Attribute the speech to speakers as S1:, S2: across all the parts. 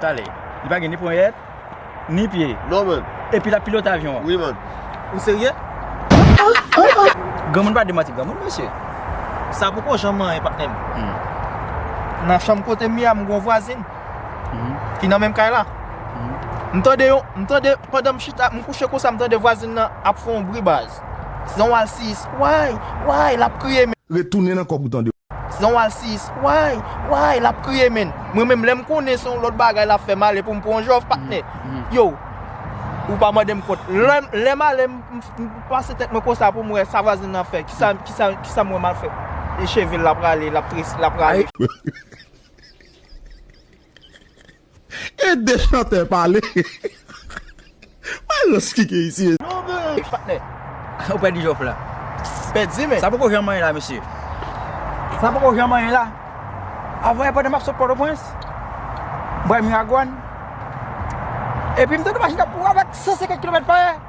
S1: Tale.
S2: Li pa gen ni ponyèt, ni pye. Non man. Epi lap
S1: pilote avyon
S2: an. Wi man. Ou
S1: serye?
S2: Granmoun pa demanti granmoun mesye. Sa poko
S3: janm anyen patnè m. Nan chanm kote m ye a m gon vwazin ki nan menm kay la. M tande yon, m tande pandan m chita, m kouche konsa m tande vwazin nan ap fè yon bri baz. Se yon alsiyis. Way! Way! Lap kriye men. Retounen nan kòb ou tande.
S4: Zan wal si is
S3: way way lap kriye menn mwen menm lèm konnen son lòt bagay lap fè male poum pran yon jòf patnè yow ou pa mandem kont lè male mpase tèt mwen konsa poum wè sa vwazen nan fè kisa mwen mal fè e chevel la prale lap trese lap rale.
S4: Ede chantè pale Maestro skike isi mesye. Yon bgy patnè
S3: ou pèdi jòf
S2: la. Pèdi men. Sa
S3: poko janm manyen la mesye.
S2: Sa poko janm manyen la. Avan yè pandan map sot pòtoprens. Mwen pral miragwàn. Epi mtande machin kap kouri avèk 150 kilomèt pa è.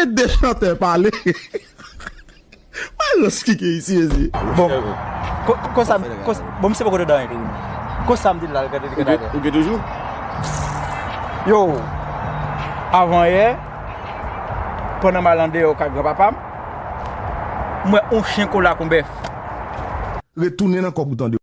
S4: Ede chantè pale Mayo skike isi mezi. Bon
S2: Konsa Bon misye poko dedan anyen Konsam di la gade gade Ou gen toujou Yo Avan yè Pandan mal andeyo kay gran papam M wè on chen kola kon bèf.
S4: Retounen nan kòb ou tande.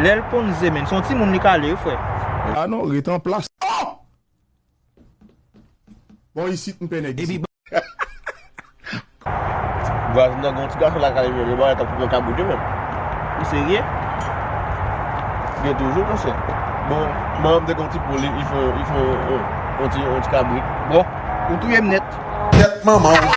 S3: Lel konn ze menn son ti moun li ka le wi fre. Ah non ret
S4: an plas oh. Bon isit m pè nèg isit.
S1: Vwazin nan gen yon ti gason lakay li menm bagay kap fèt nan kay moun yo menm. Ou serye? Gen toujou monchè. Bon manmanm te gen yon ti poul li fè yon ti kabrit. Bon ou
S3: touyem nèt. Kèt manmanw.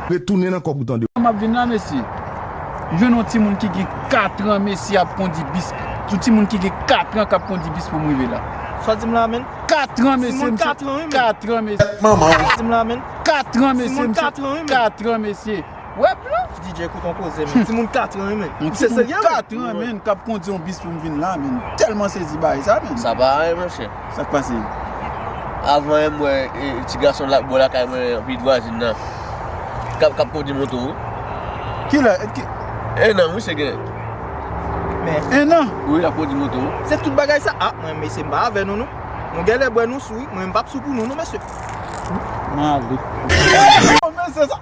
S2: Retounen nan kòb ou tande.
S4: Map vin la mesye.
S2: Jwenn yon timoun ki gen 4 ans mesye ap kondi bis yon timoun ki gen 4 ans kap kondi bis poum rive la. Sa dim la menn?
S3: 4 ans mesye
S2: Timoun 4 ans wi menn. 4
S3: ans mesye. Tèt manman
S2: w. Sa dim la menn?
S3: 4 ans mesye
S2: Timoun 4 ans wi menn. 4
S3: ans mesye.
S2: Wè blan. DJ kout yon koze
S3: menn. Timoun 4 ans wi menn. Yon timoun 4 ans menn
S4: kap kondi yon bis poum vin la menn. Telman sezi bay sa menn. Sa pa anyen monchè.
S1: Sak pase?
S4: Avan
S1: em wè ti gason la bò lakay mwen anpi vwazin nan kap kondi moto wi.
S4: Kilè? Enan misye
S1: gen.
S3: Men enan? Wi
S4: lap kondi moto.
S1: Se tout bagay sa? Ah
S3: mwen mesye m pa avè nou non. Nou genlè bwè nou sou wi, mwen m pap sou pou nou non mesye. Mwen
S2: ale.
S4: Ohh mesye sa.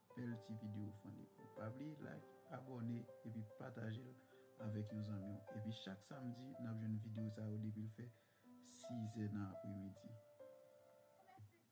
S4: Bel ti video funny bro. Pa bliye like, abone epi patajel avek yon zanmiw. Epi chak samdi nap jwenn video sa yo depil fè 6 è nan apremidi.